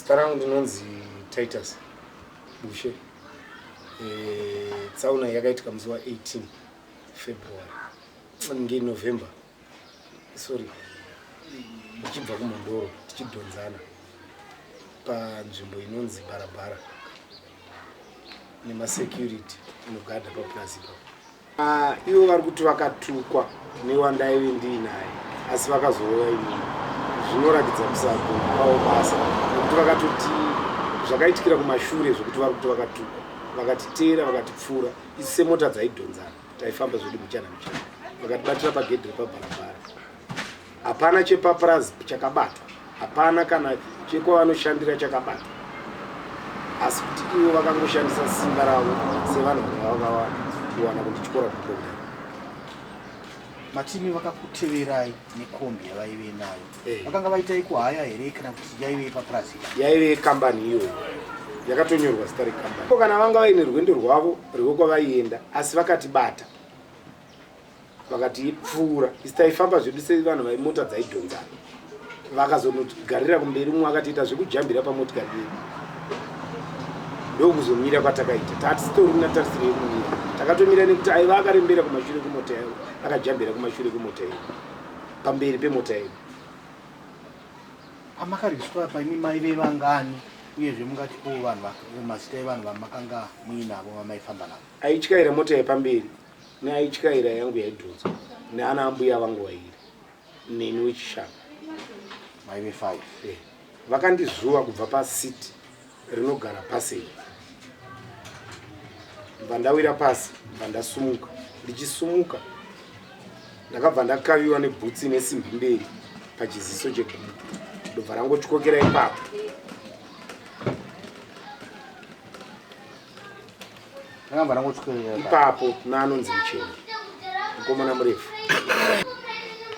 Zita rangu ndinonzi Titus Bushe. E, tsaona yakaitika musi wa 18 February nge November sorry ndichibva kumandoro tichidhonzana panzvimbo inonzi barabara nemasecurity inogada papurazi ipapo Ah, ivo vari kuti vakatukwa newandaive ndiinaye asi vakazouya imimi zvinoratidza kusagona kwavo basa nekuti vakatoti zvakaitikira kumashure zvekuti vari kuti vakatukwa vakatiteera vakatipfuura isi semota dzaidhonzana taifamba zvedu muchana muchana vakatibatira pagedhi repabharabhara Hapana chepaPRASB chakabatwa, hapana kana chekwavanoshandira chakabatwa, asi kuti ivo vakangoshandisa simba ravo sevanhu vanga vakawana kuwana kundityora kukombi. Matimi vakakuteverai nekombi yavaive nayo Eh. vakanga vaita ikuhaya here kana kuti yaive ipapurazi yaive kambani iyoyo yakatonyorwa zita rekambani ko kana vanga vaine rwendo rwavo rwekwavaienda asi vakatibata vakati pfuura isi taifamba zvedu sevanhu vaimota dzaidhonzana vakazonogarira kumberi umwe akatiita zvekujambira pamotikari yedu ndokuzomira kwatakaita tatitorina tarisiro yekumira takatomira nekuti aiva akarembera kumashure kwemota yavo akajambira kumashure kwemota yedu pamberi pemota yedu amakariswa paimi mai vevangani uyezve mungati ko vanhu mazita evanhu vamakanga muinavo vamaifamba navo aityaira mota yepamberi Nyaya ityaira yangu yaidhonzwa neana ambuya vangu vairi neni wechishanu maive five eh, vakandizuva kubva pasiti rinogara pasei bva ndawira pasi bva ndasumuka ndichisumuka ndakabva ndakaviwa nebhutsi ine simbi mberi pachiziso chegumbu ndobva rangotyokera ipapo ipapo naanonzi mucheni mukomana murefu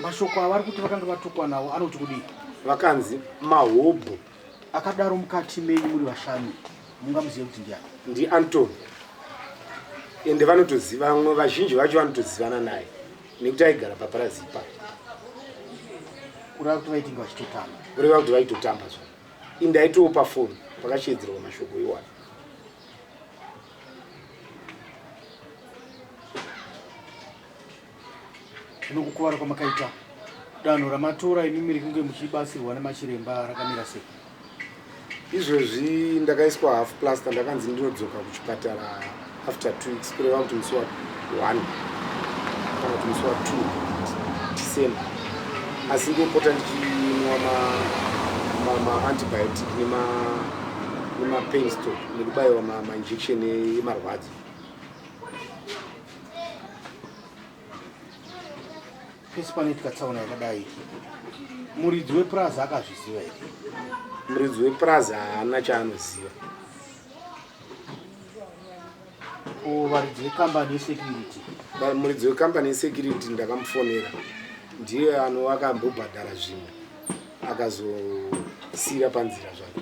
mashoko avari kuti vakanga vatukwa nawo anoti kudii vakanzi mahobho akadaro mukati menyu muri vashanu mungamuzive kuti ndiani ndiantony ende vanotoziva vamwe vazhinji vacho vanotozivana naye nekuti aigara paparazi ipa kureva kuti vaitinge vachitotamba kureva kuti vaitotamba zva Ini ndaitiwo pafoni pakasheedzerwa mashoko iwayo. Zvino kukuvara kwamakaita danho ramatora imi miri kunge muchibatsirwa nemachiremba rakamira sei? Izvozvi ndakaiswa half plaster ndakanzi ndinodzoka kuchipatara after two weeks kureva kuti musi wa one kana kuti musi wa two december asi ndopota ndichinwa maantibiotic nemapainsto nekubayiwa mainjection emarwadzo pese panoitika tsaona yakadai muridzi wepurazi akazviziva here muridzi wepurazi haana chaanoziva varidzi vekambani yesecurity muridzi wekambani yesecurity ndakamufonera ndiye anova akambobhadhara zvimwe akazosiira panzira zvake